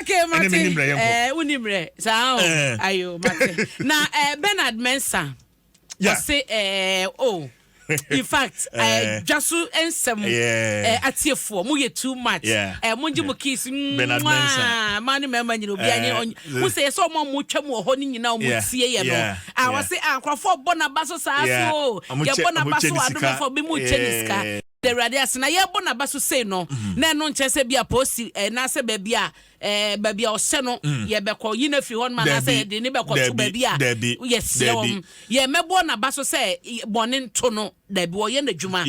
Okay, Mate. Ɛne mene mmerɛ yɛnkɔ. Ɛɛ, eh, woni mmerɛ. Saa o. Eh. Ayo, Mate. Na eh, Bernard Mensah. Yeah. Ɔse, eh, oh. in fact eh, dwa so nsɛm eh, atiefoɔ moyɛ too much yeah. eh, mogye mo kiss mwaa ma ne mmarima nyina obi anye wo sɛ yɛ sɛ ɔma mo twa mu wɔ hɔ no nyina ɔmo tie yɛ no a wɔse a nkurɔfoɔ bɔ naba so saa so yɛbɔ naba so adomɔfoɔ bi mu kyɛ ne sika da Awurade ase na yɛrebɔ n'aba so sei no, mm-hmm. na ɛno nkyɛn sɛ bi a poosi eh, anaasɛ baabi a eh, baabi a ɔhyɛ no mm. yɛbɛkɔ yi no afiri hɔ nom anaasɛ yɛde ne bɛkɔ to baabi a yɛseɛ wɔm yɛmmɛboɔ n'aba so sɛ bɔne nto no daabi wɔyɛ n'adwuma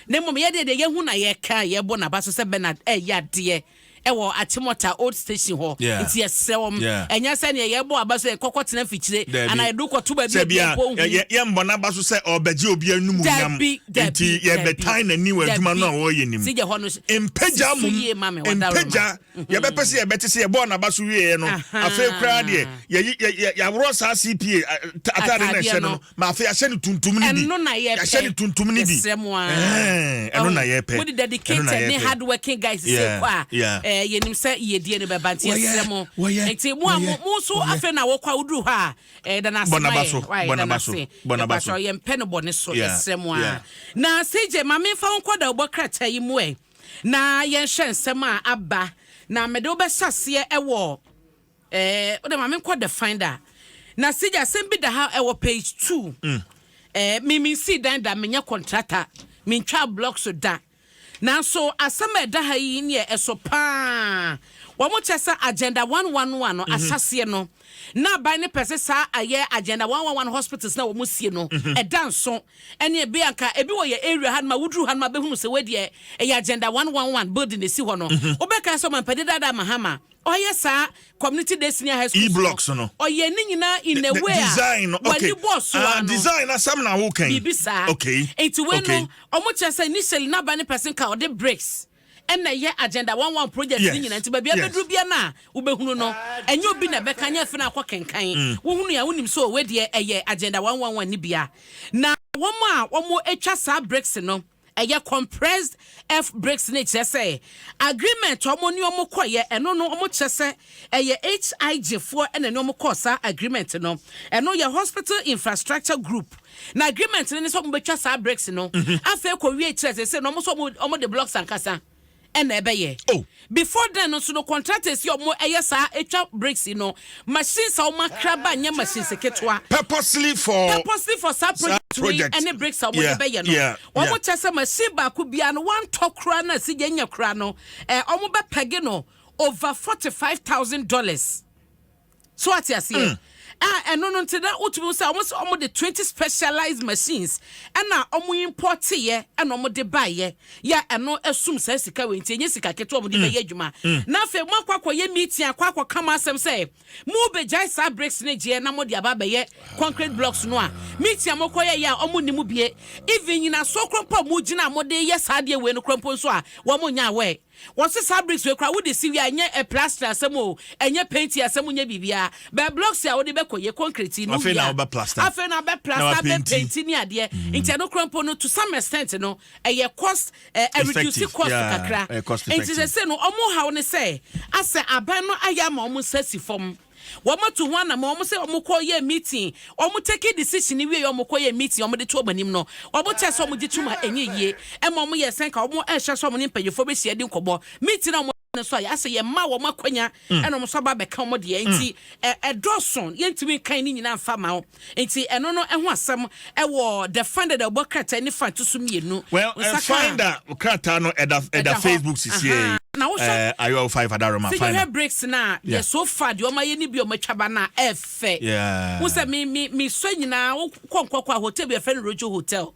na mmom yɛdeɛ deɛ yɛhu na yɛka yɛbɔ n'aba so sɛ bɛna ɛyɛ eh, adeɛ ɛwɔ Akyemɔta old station hɔ Yeah. nti yɛsrɛ wɔn Yeah. ɛnyɛ sɛ neɛ yɛbɔ aba so yɛkɔkɔ tena fikyire Dabi. anaa yɛde kɔto baabi a Sɛ bia, biabɔ hu yɛ- yɛ- yɛmmɔ n'aba so sɛ ɔrebɛgye obi anum nam Dabi, dabi, nti yɛbɛtan n'ani wɔ adwuma no a ɔreyɛ nim Sɛ gya hɔ no so- mpagya si so mom yie ma me, ɔda wo mpagya ma. yɛbɛpɛ sɛ yɛbɛte sɛ yɛbɔɔ n'aba so wieɛ no Aha. afei koraa deɛ yɛyi- yɛ- yɛ- yɛaworɔ saa cpa a- ta- atade no Ataadeɛ ɛhyɛ no no. no Ma afei yɛahyɛ no tuntum no bi. Ɛno na yɛpɛ. Yɛahyɛ no tuntum no bi. Yɛsrɛ mo ara. Ɛno na yɛpɛ. Mo de dedicated ne hard working guys sɛ kɔ a. Ɛɛ yɛnim sɛ yɛdie no bɛba nti yɛsrɛ mo. Nti mo a mo mo nso afei na wɔkɔ a woduru hɔ a ɛɛ dana ase ma yɛ. Bɔ naba so. Bɔ naba so. Yɛmpɛ no bɔ ne so. Yɛsrɛ mo ara. Na CJ ma me nfa wo nkɔ dawubɔ krataa yi mu ɛ na yɛnhwɛ nsɛm a aba na mede wo bɛhyɛ aseɛ ɛwɔ. Ɛɛ wode ma menkɔ the finder na sɛ gya asɛm bi da ha ɛwɔ page two ɛɛ me mensii dan da menyɛ kɔntrata mentwaa blocks da nanso asɛm a ɛda ha yi neɛ ɛso paa wɔn kyɛ sɛ agenda one one one no ahyɛseɛ no na aban no pɛ sɛ saa ayɛ agenda one one one hospitals na wɔn sie no ɛda nso ɛne ɛbi anka ɛbi wɔ yɛ area ha no ma woduru ha no ma bɛhunu sɛ wadeɛ ɛyɛ agenda one one one building ɛsi hɔ no wobɛka sɛ ɔmampani dada mahama Ɔyɛ saa community day senior high school blocks no. Ɔyɛ ne nyinaa in a way a wani bɔ so ano. Ah design na sam na wo kan. Bibi saa. Okay. Nti we no ɔmo kyerɛ sɛ initially na ba ne person ka ɔde bricks ɛna ɛyɛ agenda one one project ne nyinaa nti baabi abɛduru bia no a wobɛhunu no ɛnyɛ obi na ɛbɛka nyɛ afei na akɔ kenkan mm. wohunu a wonim sɛ ɔwɛ deɛ ɛyɛ agenda one one one ne bia na wɔn a wɔn atwa saa bricks no ɛyɛ compressed F bricks no kyerɛ sɛ agreement ɔmo ne ɔmo kɔyɛ ɛno no ɔmo kyerɛ sɛ ɛyɛ HIJ foɔ ɛna ne ɔmo kɔɔ saa agreement no ɛno yɛ hospital infrastructure group na agreement no ne sɛ ɔmo bɛtwa saa bricks no afei kɔ wie kyerɛ sɛ sɛ no ɔmo sɛ ɔmo de blocks ankasa ɛna ɛbɛyɛ. Oh. Before then no nso no contractors yi a wɔn ɛyɛ saa etwa bricks yi no machines a wɔn akra ba nyɛ machines ketewa. Purposely for. Purposely for saa project wei ɛne bricks a wɔn de bɛyɛ no. Yeah, yeah, yeah. Wɔn kyɛ sɛ machine baako biara no wɔn antɔ koraa na si yɛn nya koraa no ɛɛ wɔn bɛ pɛge no over forty five thousand dollars. So wate aseɛ? Ah, ɛno no nti na wotumi hu sɛ wɔn sɛ wɔn de twenty specialized machines ɛna wɔn importeeɛ ɛna wɔn de baeɛ yɛ ɛno ɛsum saa sika wei nti ɛnyɛ sika ketewa wɔn de bɛyɛ adwuma na afei mo akɔ akɔyɛ meeting akɔ akɔ ka mo asɛm sɛ mo bɛgyae saa bricks ne gyeɛ na mo de aba abɛyɛ concrete blocks no a meeting a mo kɔ yɛ yɛ a wɔn nni mo bie even nyinasoɔ korɔ mpo a mo gyina a mo de yɛ saa adeɛ wei no korɔ mpo nso a wɔn nyɛ aware. Wɔse saa bricks wei koraa wode si wie a ɛnyɛ plaster asɛm oo, ɛnyɛ painti asɛm, nyɛ biribiara, but blocks a wode bɛkɔ yɛ concrete yi no wie a, afei na wobɛ plaster, abɛ painti ne adeɛ, nti ɛno koraa mpo no to some extent no ɛyɛ cost, ɛreduce cost kakra, nti sɛsei no wɔn haw ne sɛ asɛ aban no ayɛ ama wɔn nsa asi fam. Wɔn atu ho anamɔn, wɔn sɛ wɔn kɔ yɛ meeting, wɔn take decision wie yɛ wɔn kɔ yɛ meeting, wɔn de to wɔn anim no, wɔn kyɛ sɛ wɔn gye tum a ɛnyɛ yie, ɛma wɔn yɛ sɛ nka wɔn ɛhyɛ sɛ wɔn ne mpanyinfoɔ bɛ hyia di nkɔmɔ, meeting na wɔn no nso a yɛasɛ yɛn mma wɔn akwanya ɛna wɔn nso aba abɛka wɔn deɛ, nti ɛdɔɔso, yɛntumi nkan ne nyinaa nfa ma wɔn. Nti ɛno no ɛho asɛm ɛwɔ the finder da ɔbɔ krataa ni fa to so mmienu. Well, uh, finder krataa no ɛda ɛda Facebook sisi yɛ. Na wohwɛ ɛɛ eh, ayɔ five adaroma finder. Sɛ yɛhwɛ breaks na yɛ so far deɛ ɔmo ayɛ ni bi ɔmo atwa ba na ɛfɛ. Wosɛ mi mi mi sɔ nyinaa wokɔ nkɔkɔ a hotel bi ɛfɛ no Rojo hotel.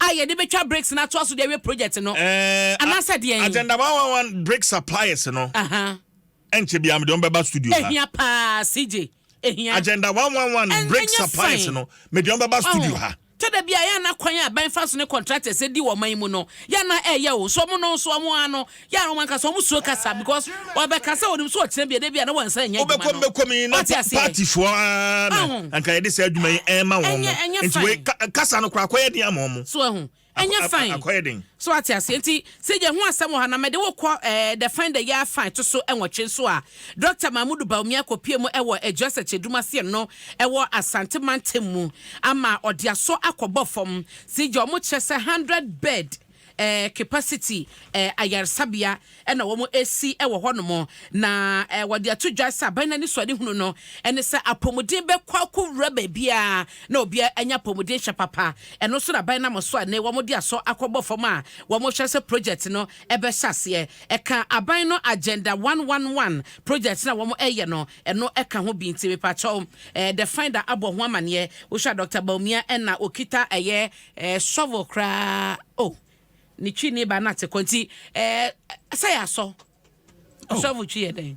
a yɛde bɛtwa bricks no atoa so de awie project no eh, anaasɛ deɛn agenda wawawan brick suppliers no ɛnkyɛ biaa mede ɔmbɛba studio ha ɛhia paa cj ɛhia agenda wawawan brick suppliers no mede ɔmbɛba studio ha tɛda bi a yɛ ana kwan a ban fa so ne contractors di wɔn man mu no yɛ ana ɛyɛ o so ɔmo no nso ɔmo ano Yeah, wɔn ankasa wɔn suro kasa because ɔbɛ kasa wɔn nim so ɔkyerɛ bi ɛdɛ bi a na wɔn nsa nyɛ adwuma no. Ɔbɛkɔ mbɛkɔ mi na party foɔ aa na nka yɛde sɛ adwuma yi ɛɛma wɔn mo nti wei kasa no kora akɔyɛ den ama wɔn mo. So ɛho ɛnyɛ fine akɔyɛ den. So ate aseɛ nti sɛ yɛ ho asɛm wɔ ha na mɛde wɔ kɔ ɛɛ the fine the yɛ fine to so ɛnwɔtwe so a Dr. Mahmudu Bawumia akɔpie mu ɛwɔ Adwa Sɛkyɛdum aseɛ no ɛwɔ Asante Mantam mu ama ɔde aso akɔbɔ fam sɛ yɛ wɔn kyerɛ sɛ hundred bed eh, capacity eh, ayaresabea na wɔn esi wɔ hɔnom na eh, wɔde ato dwa sɛ aban n'ani so adehunu no ɛne sɛ apɔmuden bɛkɔ akɔwura baabiara na obiara anya apɔmuden hyɛ papa ɛno nso na aban nam so a ne wɔn de asɔ akɔbɔ fam a wɔn hyɛ sɛ project no ɛbɛhyɛ aseɛ ɛka aban no agenda 111 project na wɔn ɛyɛ no ɛno ɛka ho bi nti mepakyɛw eh, the finder abɔ ho amaneɛ wohwɛ a dr baumia ɛna okita ɛyɛ Ɛɛ sɔvo koraa oh ne twi ne ba nate kɔ nti ɛɛ sɛ yɛ asɔ oh. sɔvo twi yɛ dɛn.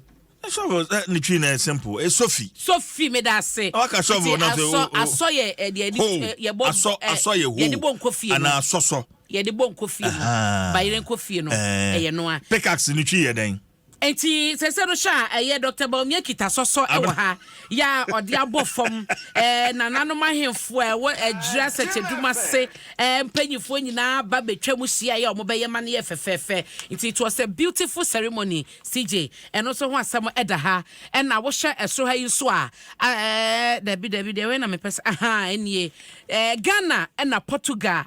sɔvo eh, ne twi na yɛ simple ɛ eh, sofi. sofi mi da ase. na waka sɔvo na sɛ o o asɔ yɛ ɛ deɛ yɛ bɔ asɔ asɔ yɛ ho yɛ de bɔ nkɔ fie no ana asɔsɔ yɛ de bɔ nkɔ fie no bayerɛ nkɔ fie no ɛyɛ noa. pickaxe ne twi yɛ dɛn. Enti sese no hwɛ a ɛyɛ Doctor Bawumia kita sɔsɔ wɔ ha yɛ a ɔde abɔ fam ɛɛ nananom ahemfo a ɛwɔ Adwiri Asɛkyɛdum ase ɛɛ mpanyinfoɔ nyinaa ba betwa mu hyia yɛ a wɔbɛyɛ ma no yɛ fɛfɛɛfɛ nti it was a beautiful ceremony CJ ɛno nso ho asɛm ɛda ha ɛna wohwɛ ɛsoro ha yi nso a ɛɛ dabi dabi deɛ wɛn na mepɛ sɛ ahaa ɛnie ɛɛ Ghana ɛna Portugal.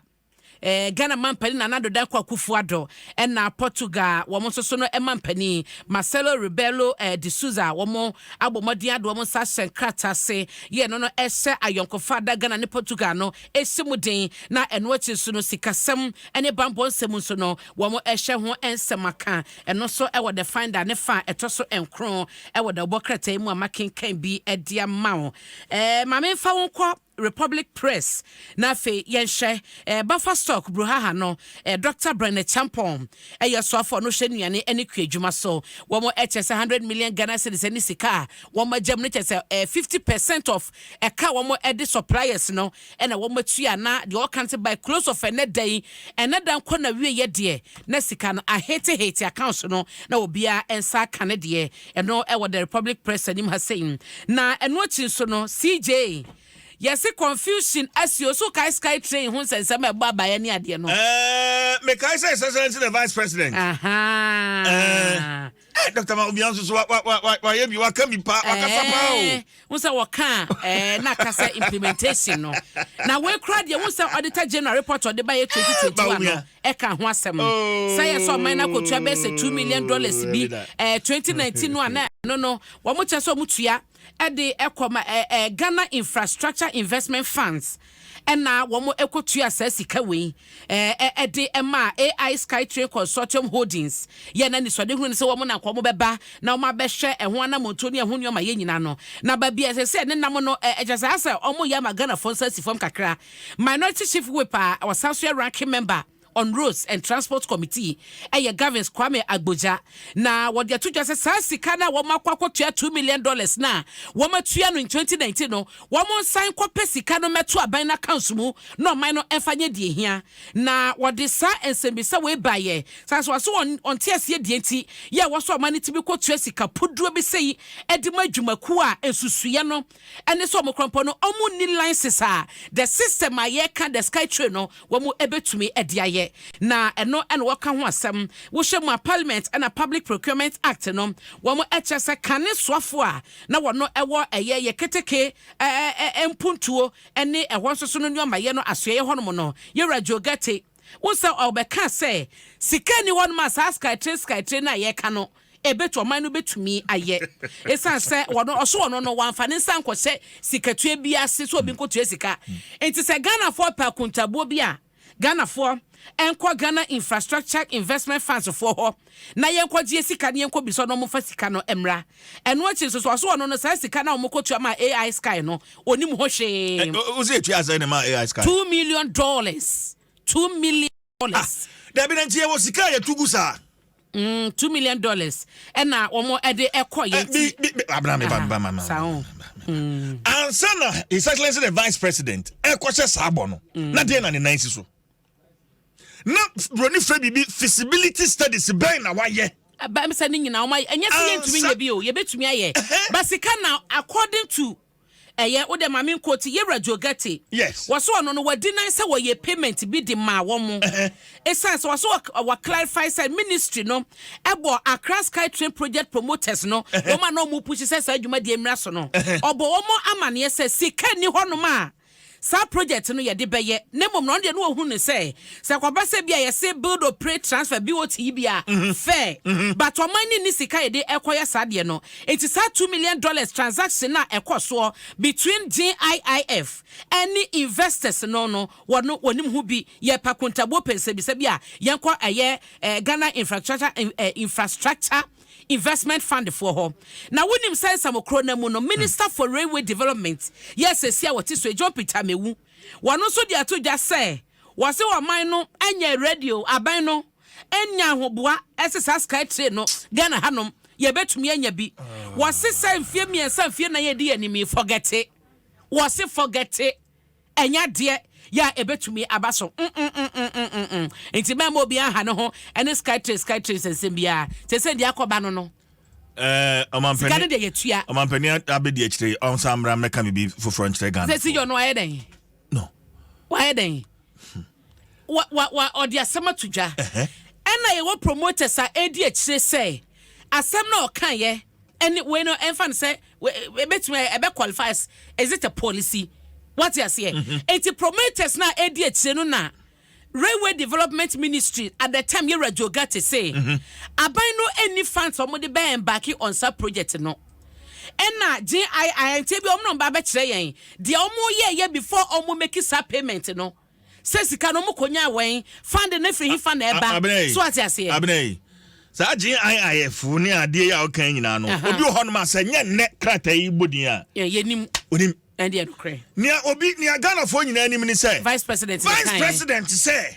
Ɛɛ Ghana mampanin Nana Addo Dankwa Akufo-Addo ɛna Portugal wɔn nso so no mampanin Marcelo Rebelo ɛɛ de Souza wɔn abɔ mmɔden ado wɔn nsa ahyɛ nkrataa ase yɛ ɛno no ɛhyɛ ayɔnkofa ada Ghana ne Portugal no ɛhyɛ mu den na ɛno akyi nso no sikasɛm ɛne banbɔ nsɛm nso no wɔn ɛhyɛ ho nsɛm aka ɛno nso ɛwɔ The Finder ne fa a ɛtɔ so nkron ɛwɔ dawubɔ krataa yi mu a makenkan bi ɛde ama wo ɛɛ maame nfa wo nkɔ Republic Press, na afei yɛnhwɛ Bafa Stock Bruhaha no, Dɔkta Brɛne Champong yɛ ɔsoafoɔ no hwɛ nnuane ne kuadwuma so, wɔn kyɛ sɛ hundred million Ghana cedis ne sika a wɔn agyam no kyɛ sɛ fifty percent of ɛka a wɔn de suppliers no na wɔn atua na deɛ ɔka no sɛ by close of ɛnɛ da yi, ɛnɛ da nkɔ na wieɛ deɛ na sika no aheetehete accounts no na obiara nsa aka ne deɛ. Ɛno wɔ The Republic Press anim ha sei. Na ɛno akyi nso no, CJ, yɛse confusion asi o. So wokae sky train ho nsɛnsɛm a ɛbɔ abaeɛ ne adeɛ no? Ɛɛɛ, mekae sɛ His Excellency the Vice President. Ahaa. Ɛɛ, Doctor Maobiang nso so wa wa wa wayɛ bi, waka bi pa, wakasa paa o. Ɛɛɛ, Wohu sɛ wɔka a ɛɛ na aka sɛ implementation no. Na wei koraa deɛ wohu sɛ Auditor General report a ɔde baeɛ 2021 no ɛka ho asɛm. Sɛ yɛ sɛ ɔman no akɔtua bɛyɛ sɛ two million dollars bi ɛɛ 2019 no a na ɛno no wɔkyerɛ sɛ wɔtua de kɔ ma ɛɛ ɛɛ Ghana Infrastructure Investment Funds. na wɔkɔtuaa saa sika wei de maa AI Skytrain Consortium Holdings yɛɛ no anisoadehunu no sɛ wɔn na anka wɔbɛba na wɔabɛhwɛ ɛho anammɔntuo ne ɛho nneɛmayɛ nyinaa no. Na baabi a ɛsɛ sɛ ne nam no, ɛkyɛ saa sɛ wɔyɛ ama Ghanafoɔ nsa si fam kakra. Minority Chief Whip a ɔsan nso yɛ Ranking Member, on Roads and Transport Committee, ɛyɛ Gavins Kwame Agbodza, na wɔde ato dwa sɛ saa sika no a wɔakɔ akɔtua two million dollars no a wɔatua no in twenty nineteen no, wɔnsan nkɔpɛ sika no mmɛto aban no accounts mu na ɔman no mfa nyɛ deɛ ɛhia. Na wɔde saa nsɛmmisa wei baeɛ saa nso wɔse wɔn wɔnte aseɛ deɛ nti yɛ a ɛwɔ sɛ ɔman no tumi kɔtua sika puduo bi sei de ma adwumakuo a nsusuiɛ no ɛne sɛ wɔn korɔnpɔ no wɔn nni license a the system a yɛka the sky train no wɔn ɛbɛtumi ɛde ayɛ na ɛno ɛna wɔka ho asɛm wohyɛ mu a parliament ɛna public procurement act no wɔn ɛkyɛ sɛ kane soafo a na wɔn ɛwɔ ɛyɛ yɛ keteke ɛɛ ɛɛ mpuntuo ɛne ɛhɔ nso so no nneɛma yɛ no asoɛyɛ hɔnom no yɛwura Joe Gɛte Wohu sɛ ɔbɛkaa sɛ sika nni hɔnom a saa skytre skytre no a yɛreka no ɛbɛtu ɔman no bɛtumi ayɛ. Ɛsiane sɛ ɔno ɔso ɔno no wamfa ne nsa nkɔhyɛ sikatua bi ase sɛ obi nkɔtua sika nti sɛ Ghanafoɔ pɛ akontabuo bi a Ghanafoɔ nkɔ Ghana Infrastructure Investment Funds foɔ hɔ. na yɛnkɔgyeɛ sika na yɛnkɔbisa na wɔmfa sika no mmra. Ɛno akyi nso so ɔso ɔno no saa sika no a wɔkɔtua maa AI Sky no, ɔnim ho hwee. Wo sɛ ɛtua sɛ ne maa AI Sky? Two million dollars. Two million dollars. Ah, dabi na nti yɛwɔ sika a yɛtu gu saa. Mm, two million dollars ɛna wɔn de ɛkɔ yɛn ti. Abena mi ba mi ba ma ma. Ansa na His Excellency the Vice President ɛkɔhyɛ saa bɔ no, na deɛ na ne nan si so. na buroni fɛ biribi feasibility studies bɛn na wayɛ ɛbɛm sɛ ne nyinaa wɔn ɛnyɛ sɛ yɛntumi nyɛ bi o yɛbɛtumi ayɛ basika na according to ɛyɛ wo dɛ maame nkɔ ti yɛwura jogɛte wɔso ɔno no wadi nan sɛ wɔyɛ payment bi de maa wɔn mo esan sɛ wɔso wɔ clarify sɛ ministry no ɛbɔ Accra Sky Train project promoters no wɔn a na wɔn pusi sɛ saa adwuma deɛ mmira so no ɔbɔ wɔn amaneɛ sɛ sika ni hɔnom a saa project no yɛde bɛyɛ na mmom na ɔno deɛ na ɔhu no sɛ sɛ kɔba sɛ bi a yɛse build operate transfer BOT yi bi a fair but ɔman no nni sika yɛde ɛkɔyɛ saa deɛ no nti saa two million dollars transaction a ɛkɔ soɔ between GIIF ɛne investors no no wɔno wɔnim ho bi yɛ pa kuntabuo pɛnsɛbisa bi a yɛnkɔ ɛyɛ eh, Ghana infrastructure eh, infrastructure investment fund foɔ hɔ na wonim sɛ nsamokuro no mu no minister for railway development yɛ sɛsi a wɔte so yi John Peter Mewu wɔno nso de ato dwa sɛ wɔse ɔman no nyɛ radio aban no nya ahoboa ɛse saa sky train no Ghana hanom yɛbɛtumi anya bi wɔse sɛ mfie mmiɛnsa mfie nan yɛdi yɛ anim yi fɔgɛte wɔse fɔgɛte Ɛnyɛ adeɛ yɛ a ɛbɛtumi aba so mm-mm-mm-mm-mm-mm. Nti mɛmma obiara nha ne ho ne Skytrain Skytrains nsɛm biara. Seesei deɛ akɔba no no, sika no deɛ yɛtua. Ɔmampanin abɛdi akyire yi, ɔnsan mmra mmɛka biribi foforɔ nkyerɛ Ghanafoɔ. Sɛ Siyon no ayɛ dɛn? No. Wayɛ dɛn? wa wa wa ɔde asɛm ato dwa ɛna yɛwɔ promoters a ɛredi akyire sɛ asɛm na ɔkaeɛ ɛne wei no ɛmfa no sɛ ɛbɛtumi ɛbɛ qualifies is it a policy wate aseɛ mhm. eti promoters na ɛredi akyire no na railway development ministry at the time yɛwura jogate se mhm. aban no ɛni funds wɔn de bɛn embarking on sa project no ɛna gye ayɛ ayɛnteɛ bi wɔn na wɔn ba bɛkyerɛ yɛn deɛ wɔn yɛ yɛ before wɔn make sa payment no. Sɛ sika no ɔmo kɔ nyaa wɛn. Funding no firi hefa na ɛba. So ate aseɛ. Abena yi, saa GIIF ne adeɛ yi a ɔka nyinaa no, obi wɔ hɔ nom a sɛ nyɛ nnɛ krataa yi bɔ din a. Yɛnim. Onim. Ɛndeɛ nokorɛ. Nea obi, nea Ghanafoɔ nyinaa nim ne sɛ. Vice President ne kan yɛ. Vice President sɛ.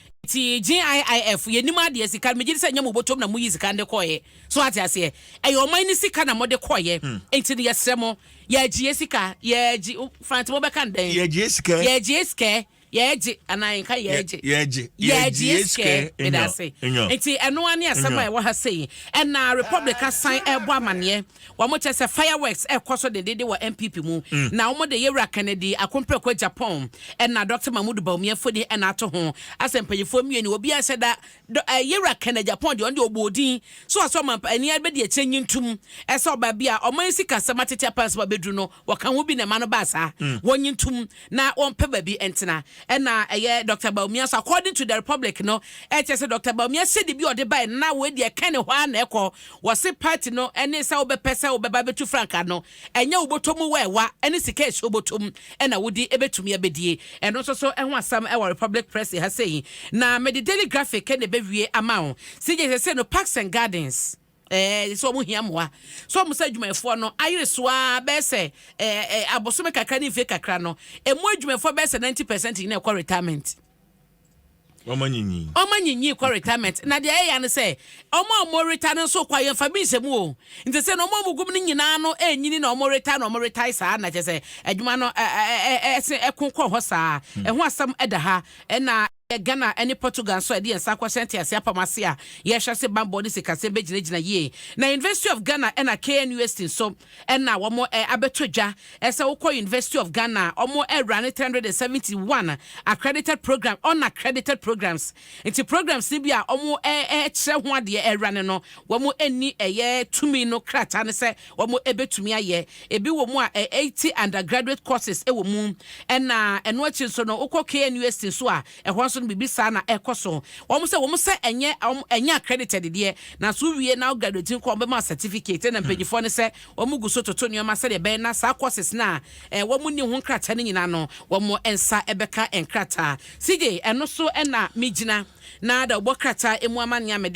Nti JIIF yɛ nim adeɛ sika no megye di sɛ nyɛ mo bɔtɔm na mo yi sika no de kɔɔ yɛ so ate aseɛ ɛyɛ ɔman no sika na mo de kɔɔ yɛ nti no yɛ srɛ mo yɛ agye yɛ sika yɛ agye franti mo bɛka no dɛn yɛ agye yɛ sika yɛ agye yɛ sika yɛ agye anaa yɛ nka yɛ agye yɛ agye yɛ agye yɛ sika meda ase nti ɛno ara ne asɛm a ɛwɔ ha sei ɛna republic asan ɛbɔ amaneɛ. Wɔn kyɛ sɛ fireworks rekɔ so dendeenden wɔ NPP mu na wɔn de Yewura Kennedy akompreko Japan ɛna Doctor Mahmoud Bawumia mfoni ɛna ato ho. Asɛ mpanyinfoɔ mmienu obiara nhyɛ da dɔ ɛɛ Yewura Kennedy Japan deɛ ɔno deɛ ɔbɔɔ din so ɔsɛ ɔman pa ɛni ɛbɛ di akyire nyi ntum ɛsɛ ɔbaa bi a ɔman sikasɛm atete apansam abɛduru no Wɔka ho bi na ɛma no baa saa. Wɔnye ntom na wɔmpɛ baabi ntena. Ɛna ɛyɛ Doctor Bawumia so. According to The Republic no, ɛkyerɛ sɛ Doctor Bawumia sɛdi bi a ɔde bae no, na wei deɛ ɛka ne hɔ ara na ɛkɔ. Wɔse party no ne sɛ wobɛpɛ sɛ wobɛba abɛtu frankaa no, ɛnyɛ wo bɔtɔ mu wɛɛwa ne sika a ɛhyɛ wo bɔtɔ mu na wode bɛtumi abɛdie. Ɛno nso so ho asɛm wɔ Republic Press ha sei. Na mede Daily Graphic na ɛbɛwie ama wo. CJ seesei no Parks and Gardens. Ɛɛ, sɛ wɔn hia mmoa. So wɔn sɛ adwumayɛfoɔ no ayere so ara bɛyɛ sɛ ɛɛ ɛɛ abosome kakra ne mfie kakra no, emu adwumayɛfoɔ bɛyɛ sɛ ninety percent nyinaa kɔ retirement. Wɔn anyinyi. Wɔn anyinyi kɔ retirement. Na deɛ ɛyɛ ano sɛ, wɔn a wɔn retire no nso kɔ a yɛnfa bi nhyɛ mu o. Nti sɛ na wɔn a wɔn gum no nyinaa no ɛnyini na wɔn retire na wɔn retire saa na kyɛ sɛ adwuma no ɛɛ ɛɛ ɛɛ ɛko kɔ hɔ saa. Ɛho asɛm ɛda ha ɛna. Ɛyɛ Ghana ne Portugal nso a yɛde yɛn nsa akɔhyɛ ntease apam ase a yɛrehwɛ ase bammɔ ne sikasɛm bɛgyinagyina yie. Na University of Ghana na KNUST nso na wɔn abɛtɔ dwa sɛ wokɔ University of Ghana a wɔn wura ne three hundred and seventy one accredited program, unaccredited programs. Nti programs no bi a wɔkyerɛ ho adeɛ wura no no wɔn nni ɛyɛ tumi no krataa no sɛ Wɔbɛtumi ayɛ ebi wɔ mu a eighty undergraduate courses wɔ mu, ɛna ɛno akyi nso no wokɔ KNUST nso a ɛhɔ nso no biribi saa na ɛkɔ so. Wɔn sɛ wɔn sɛ ɛnyɛ wɔn ɛnyɛ accredited deɛ, nanso wowie na wo graduate nko a wɔbɛma wo certificate. Ɛna mpanyinfoɔ no sɛ wɔn gu so toto nneɛma sɛdeɛ ɛbɛyɛ na saa courses no a ɛɛ wɔn nni ho nkrataa no nyinaa no wɔn nsa bɛka nkrataa. CJ ɛno so na megyina na da wobɔ krataa mu amanneɛ a mede.